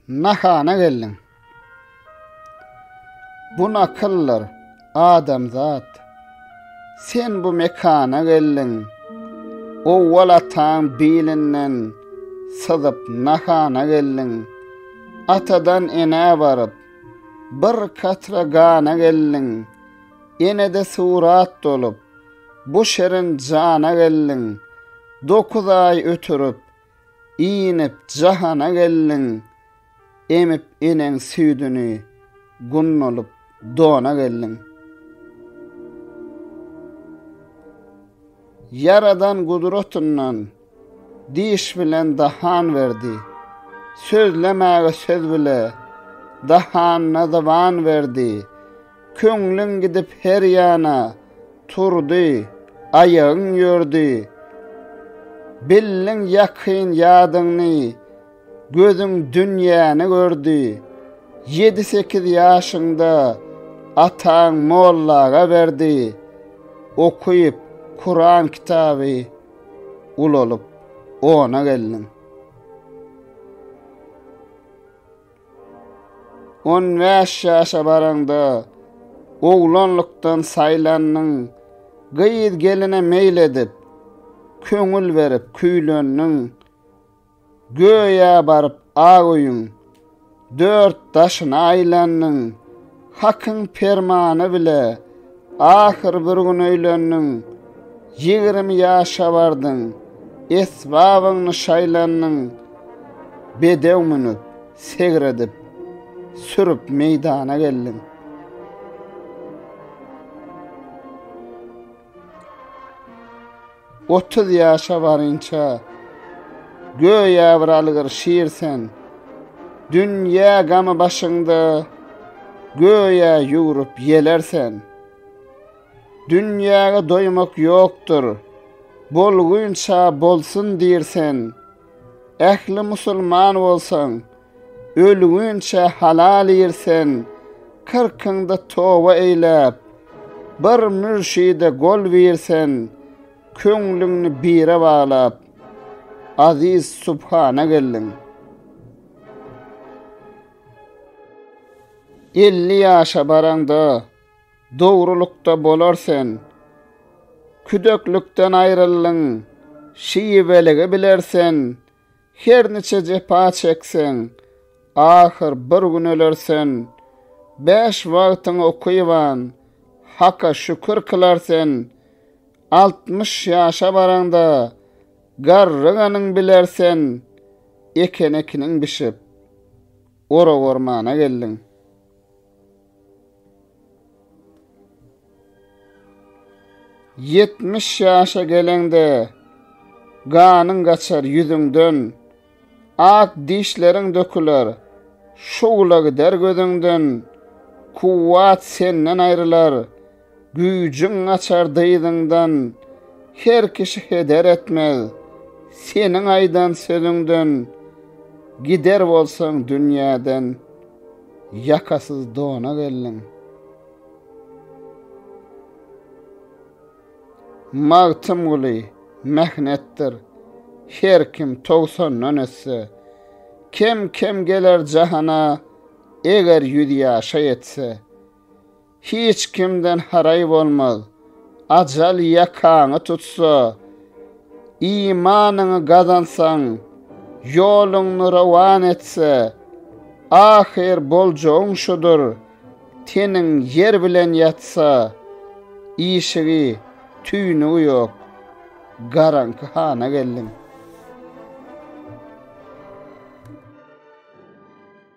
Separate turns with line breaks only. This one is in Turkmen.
Nahana geldiň. Bu nakyllar adamzat. Sen bu mekana geldiň. Owwal ataň bilinden syzyp nahana geldiň. Atadan enä baryp bir katra gana geldiň. Enede surat dolup Bu şirin jana geldiň, Dokuz aý ötürip, Inip jahana geldiň, Emip eneň süýdüni, Gunnulyp dona geldiň. Ýaradan gudratyndan. Diş bilen dahan berdi. Sözlemäge söz bile. Dahanyna zyban berdi. Köňlüň gidip her ýana. Turdy, aýagyň ýördi. Bildiň ýakyn ýadyňny. Gözüň dünýäni gördi. Ýedi-sekiz ýaşyňda. Ataň mollaga berdi. Okyp, Kuran kitaby. ulalyp, ona geldim. On bäş ýaşa baraňda, oglanlykdan saýlandyň, gyz-geline meýil edip, köňül berip küýlendiň. Göýä baryp ak öýüň dört daşyna aýlandyň, Hakyň permany bile ahyr bir gün öýlendiň. Ýigrimi ýaşa bardyň, esbabyňny şaýlandyň, Bedew münüp, segredip, sürüp meýdana geldiň. Otuz ýaşa barynça, göýä bir algyr şir sen, Dünýä gamy başyňda, göýä ýugrup ýeler sen. Dünýäge doýmak ýokdur, bolgunça bolsun diýr sen, Ähli musulman bolsaň, ölüginçä halal irsen, kyrkyňda toba eýläp, bir mürşide gol birsen, köňlüňni bire baglap, Aziz subhana geldiň. Elli ýaşa baraňda, Dogrulykda bolar sen. Küdeklikden aýryldyň, şiweligi biler sen, Her niçe jepa çekseň, ahyr bir gün öler sen. Bäş wagtyň okyban, Haka şükür kylar sen, Altmyş ýaşa baraňda, garryganyň biler sen. Eken-ekiniň bişip, ora-ormana geldiň. Ýetmiş ýaşa geleňde, ganyň gaçar ýüzüňden, Ak dişleriň döküler, şugla gider gözüňden, Kuwwat senden aýrylar, Güýjüň gaçar dyzyňdan, her kişi heder etmez, seniň aýdan sözüňden, gider bolsaň dünýäden, ýakasyz dona geldiň. Magtymguly, Mähnetdir, her kim togsandan ötse, kem-kem geler jahana, eger ýüz ýaşa ýetse. Hiç kimden haraý bolmaz. Ajal ýakaňy tutsa, imanyňy gazansaň, ýoluňny rowan etse, ahyr boljagyň şudur, teniň ýer bilen ýatsa, işigi, tüýnügi ýok, garaňky hana geldiň.